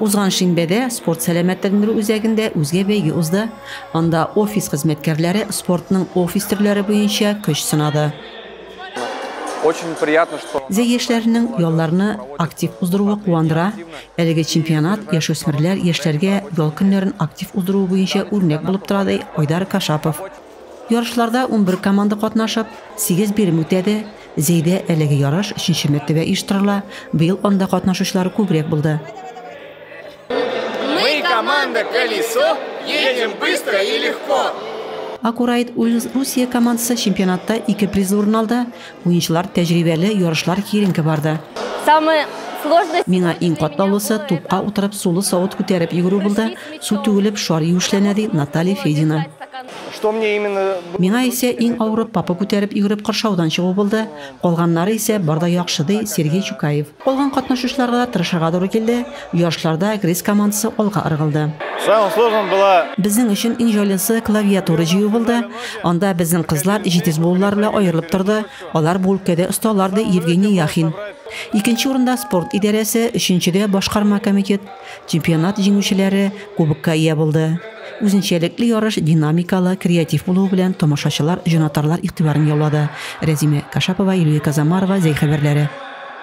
Узган шимбәдә спорт сәламәтләндерү үзәгендә үзгә бәйге узды. Анда офис хезмәткәрләре спортның офис төрләре буенча көч сынады. Очень приятно, что Зәй яшьләренең ялларны актив уздыруы куандыра. Әлеге чемпионат яшүсмерләр, яшьләргә ял көннәрен актив уздыруы буенча үрнәк булып тора, ди Айдар Кашапов. Ярышларда унбер команда катнашып, сигез бирем үтәде. Зәйдә әлеге ярыш өченче мәртәбә оештырыла, быел анда катнашучылар күбрәк булды. Мы команда Колесо, едем быстро и легко! Акурайт Ульс Русия командасы чемпионатта ике призлы урын алды. Уенчылар тәҗрибәле, ярышлар киеренке барды. Самый сложный. Миңа иң катлаулысы, тупка утырып, сулы савыт күтәреп йөгерү булды, су түгелеп, шар юешләнә, ди Наталья Федина. Что мне именно было. Миңа исә иң авыры, папа күтәреп йөгереп кыршаудан чыгу булды, калганнары исә бар да яхшы, ди Сергей Чукаев. Калган катнашучыларга да тырышырга туры килде, ярышларда грейс командасы алга ыргылды. Самым сложным была. Безнең өчен иң җайлысы клавиатура җыю булды. Анда безнең кызлар җитез булулары белән аерылып торды, алар бу өлкәдә осталар, ди Евгений Яхин. Икенче урында спорт идарәсе, өченчедә башкарма комитет, чемпионат җиңүчеләре кубокка ия булды. Үзенчәлекле ярыш динамикалы, креатив булуы белән тамашачылар, җанатарлар игътибарын яулады. Рәзимә Кашапова, Юлия Казамарова, Зәй хәбәрләре.